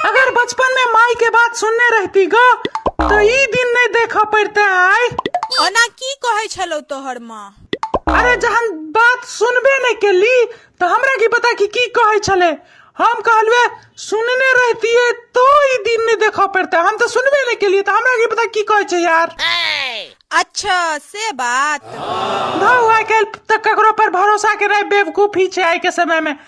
अगर बचपन में माई के बात सुनने रहती ग तो ई दिन नहीं देखा पड़ते आय ओना की कहै छलौ तोहर माँ अरे जहन बात सुनबे नहीं के ली तो हमरा की पता कि की कहे छले हम कहलवे सुनने रहती है तो ई दिन नहीं देखा पड़ते हम तो सुनबे नहीं के लिए तो हमरा की पता की कहे छे यार अच्छा से बात धौ आइ काल्हि तऽ ककरो पर भरोसा के रहे बेवकूफी छै आइ के समय में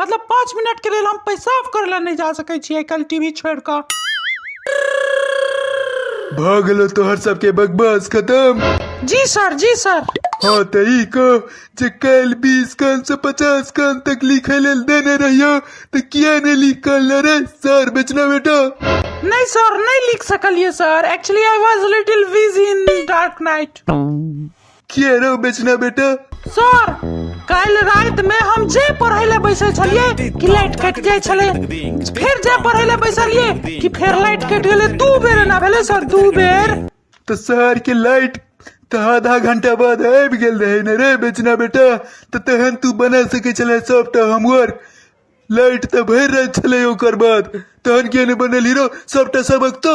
मतलब पाँच मिनट के लेल हम पेशाब करे ला नहीं जा सके छी कल टीवी छोड़ कर भऽ गेलो तोहर सबके बकवास खत्म जी सर जी सर हाँ तऽ ई कह जे काल्हि बीस कान से पचास कान तक लिखे लेल देने रहियो तऽ किया नहि लिख काल रे सर बेचना बेटा नहीं सर नहीं लिख सकलिए sir actually I was little busy in dark night की रे ओ बेचना बेटा सर काल्हि राति में हम जे पढ़े ले बैसल छलिए कि लाइट कट जाए छले फिर जे पढ़े ले बैसलिए कि फिर लाइट कट गेले दू बेर ना भेले सर दू बेर तो शहर के लाइट तो आधा घंटा बाद आबि गेल रहे ने रे बेचना बेटा तो तहन तू बना सके छले सबटा हमर लाइट तो भरि राति छले ओकर बाद तहन के ने बनल हीरो सबटा सबक तो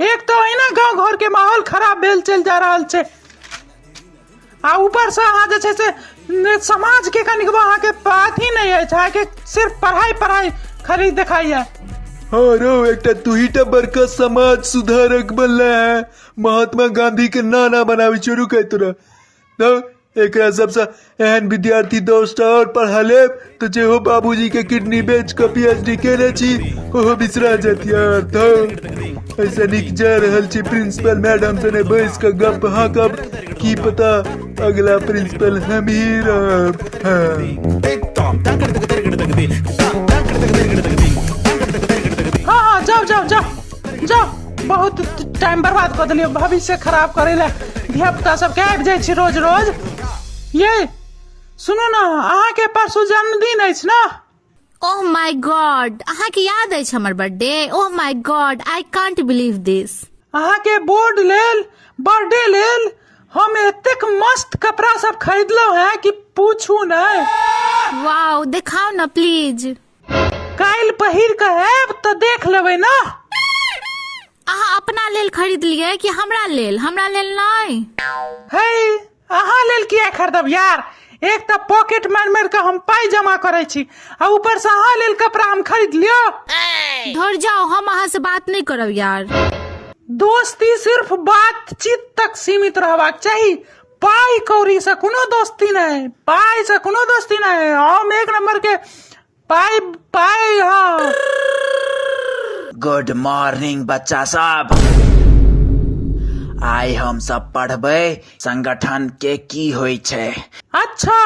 एक तो अहिना गांव घर के माहौल खराब भेल चल जा रहल छै आ ऊपर से अहाँ जे छै से ने समाज के कनिक अहाँ के अथी नहीं है अहाँ के सिर्फ पढ़ाई पढ़ाई खरीद दिखाई है हाँ रो एकटा तू ही टा बड़का समाज सुधारक बनला है महात्मा गांधी के नाना बनावे शुरू कर तोरा तो एक सबसे एहन विद्यार्थी दोस्त और पढ़ा ले तो जे हो बाबूजी के किडनी बेच के पीएचडी केने छी ओहो बिसरा जात यार तो ऐसे निक जा रहल छी प्रिंसिपल मैडम से ने बैस के गप हाँ कब की पता अगला प्रिंसिपल हम ही रहब हाँ। हाँ हाँ जाओ जाओ जाओ जा बहुत टाइम बर्बाद कर दिलियो भविष्य खराब करे ले धिया पुता सब के आबि जाइ छी रोज रोज ये सुनू ना अहाँ के परसू जन्मदिन अछि ना ओह माय गॉड अहाँ के याद अछि हमर birthday oh my god I can't believe this अहाँ के बोर्ड लेल बर्थडे लेल हम एतेक मस्त कपड़ा सब खरीदलहुं हैं कि पूछू नहीं वाओ दिखाओ ना प्लीज काल्हि पहिर कऽ आयब तऽ देख लेबै ने अहाँ अपना लेल खरीदलियै कि हमरा लेल हमरा लेल नहि हे अहाँ लेल किया खरीदब यार एक तऽ पॉकेट मारि मारि कऽ हम पाइ जमा करै छी आ ऊपर से अहाँ लेल कपड़ा हम खरीद लियो धर जाओ हम अहाँ से बात नहीं करब यार दोस्ती सिर्फ बातचीत तक सीमित रहबाक चाही पाई कौड़ी से कोनो दोस्ती नहीं पाई से कोनो दोस्ती नहीं हम एक नंबर के पाई पाई हाँ गुड मॉर्निंग बच्चा सब आइ हम सब पढ़बै संगठन के की होइ छै अच्छा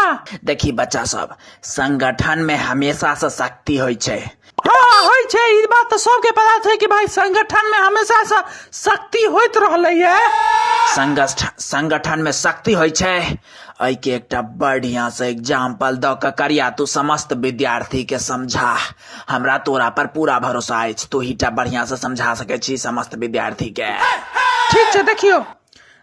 देखी बच्चा सब संगठन में हमेशा से शक्ति होइ छै हँ होइ छै ई बात तऽ सबके पता छै कि भाय संगठन में हमेशा से शक्ति होइत रहले ये संगठन संगठन में शक्ति होइ छै एहि के एकटा बढ़िया से एग्जाम्पल द के करिया तू समस्त विद्यार्थी के समझा हमरा तोरा पर पूरा भरोसा अछि तू ही टा बढ़िया से समझा सके छी समस्त विद्यार्थी के ठीक छै देखियो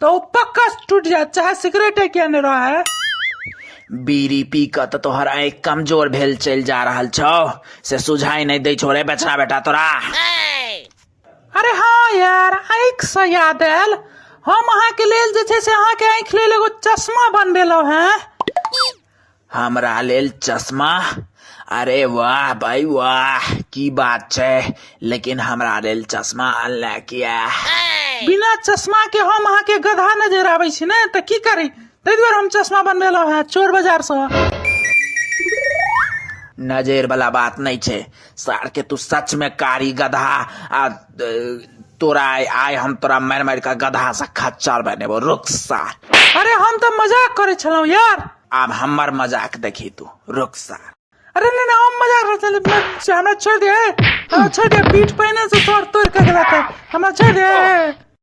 तो उ पक्का टूट जाए चाहे सिगरेट है क्या नहीं रहा है बीड़ी पी कऽ तऽ तोहर आँखि कमजोर भेल चलि जा रहल छौ से सुझाइ नहि दै छौ रे बेचना बेटा तोरा अरे हाँ यार आँखि से याद आयल हम अहाँके लेल जे छै से अहाँके आँखि लेल एगो चश्मा बनबेलहुँ हैं हमरा लेल चश्मा अरे वाह भाई वाह की बात छै लेकिन हमरा लेल चश्मा अनला किया बिना चश्मा के हम अहाँ के गधा नजर आबै छी ने तऽ की करी ताहि दुआरे हम चश्मा बनबेलहुँ हैं चोर बाजार से नजर वाला बात नहीं छै सार के तू सच में कारी गधा आ ए, तोरा आय आय हम तोरा मार मार के गधा से खच्चर बनेबो रुक सार अरे हम तऽ मजाक करै छलहुँ यार आब हमर मजाक देखी तू रुक सार अरे नहि नहि हम मजाक करै छलहुँ मैं- से हमरा छोड़ि दे हमरा छोड़ि दे पीठ पहिने से तोड़ तोड़ के गेला तऽ हमरा छोड़ि दे